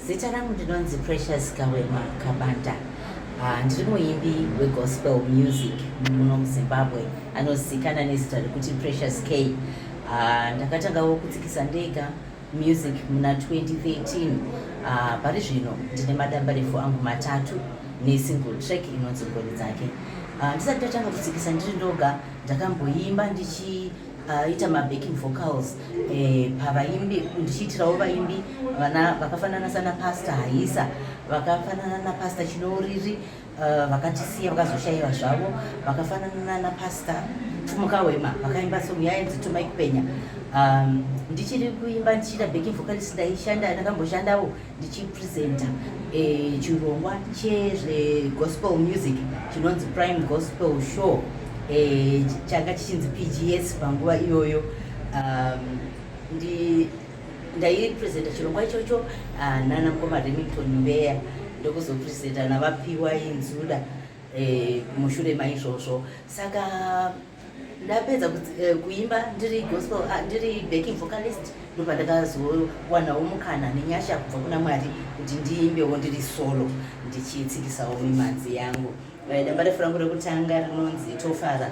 Zita rangu ndinonzi Precious Kawema Kabanda. Ah, ndiri muimbi wegospel music muno muzimbabwe anozikana nezita rekuti precious k ah, ndakatangawo kutsikisa ndega music muna 2013 ah, pari zvino ndine madambarefu angu matatu nesingle track inonzi ngoni dzake ndisati ndatanga kutsikisa ndiri ndoga ndakamboimba ndichi aita mabacking vocals eh, pavaimbi ndichiitirawo vaimbi vana vakafanana sana pasta haisa vakafanana napasta chinouriri eh, vakatisiya vakazoshayiwa zvavo vakafanana napasta pfumuka wema vakaimba song yainzi tumai kupenya um, ndichiri kuimba ndichiita backing vocals ndaishanda ndakamboshandawo ndichipresenta eh, chirongwa chezvegospel music chinonzi prime gospel show eh, changa chichinzi pgs panguva iyoyo um, ndaipresenta chirongwa ichocho ah, nana mkoma remington mbeya ndokuzopresenta navapiwa inzuda eh, mushure maizvozvo saka ndapedza eh, kuimba ndiri gospel ah, ndiri backing vocalist ndobva ndakazowanawo mukana nenyasha kubva kuna mwari kuti ndiimbewo ndiri solo ndichitsikisawo mimanzi yangu eh, damba refu rangu rekutanga rinonzi tofara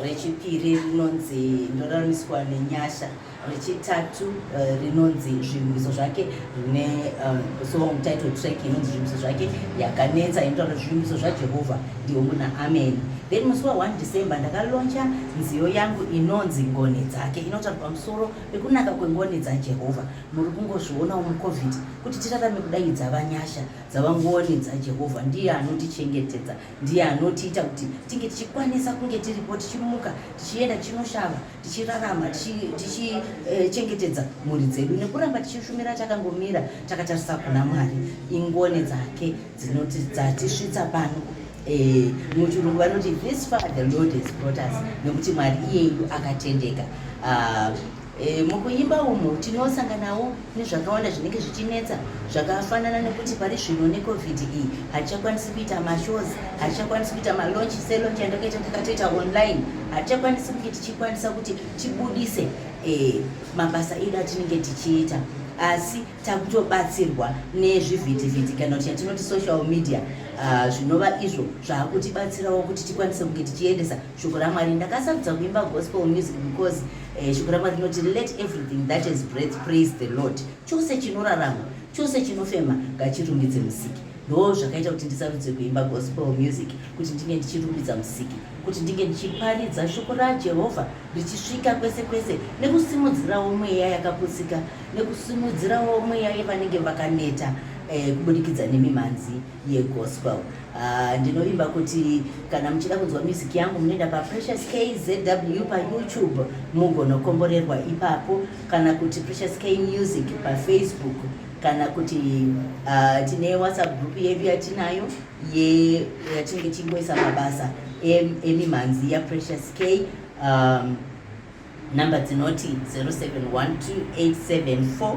rechipiri rinonzi ndoraramiswa nenyasha rechitatu uh, rinonzi zvirwimiso zvake rine uh, song title track inonzi zvirwimiso zvake yakanetsa inotaura zvirwimiso zvajehovha ndihombo naamen then musi wa 1 december ndakaloncha nziyo yangu inonzi ngoni dzake inotaura pamusoro pekunaka kwengoni dzajehovha muri kungozvionawo mucovid kuti tirarame kudai dzava nyasha dzava ngoni dzajehovha ndiye anotichengetedza ndiye anotiita kuti tinge tichikwanisa kunge tiripo tichimuka tichienda tichinoshava tichirarama tichichengetedza tichi, eh, mhuri dzedu nekuramba tichishumira takangomira takatarisa kuna mwari ingoni dzake dzinoti dzatisvitsa pano eh, muchirungu vanoti this far the lord has brought us nekuti mwari iyeyu akatendeka uh, eh, mukuimba umo tinosanganawo nezvakawanda zvinenge zvichinetsa zvakafanana nekuti pari zvino necovid iyi hatichakwanisi kuita mashows hatichakwanisi kuita malonch selonch yandakaita takatoita online hatichakwanisi kunge tichikwanisa kuti tibudise eh, mabasa edu atinenge tichiita asi takutobatsirwa nezvivhitivhiti kana kuti yatinoti social media ah, zvinova izvo zvaakutibatsirawo kuti tikwanise kunge tichiendesa shoko ramwari ndakasarudza kuimba gospel music because eh, shoko ramwari rinoti let everything that is breath praise the lord chose chinorarama chose chinofema ngachirumbidze musiki ndo zvakaita kuti ndisarudze kuimba gospel music kuti ndinge ndichirumbidza musiki kuti ndinge ndichiparidza shoko rajehovha richisvika kwese kwese nekusimudzirawo mweya yakaputsika nekusimudzirawo mweya yevanenge vakaneta eh, kubudikidza nemimhanzi yegospel uh, ndinovimba kuti kana muchida kunzwa music yangu munoenda paprecious kzw payoutube mugonokomborerwa ipapo kana kuti precious k music pafacebook kana kuti uh, tine whatsapp group yedu yatinayo yatinenge tingoisa mabasa emimhanzi yaprecious k um, number dzinoti 07128747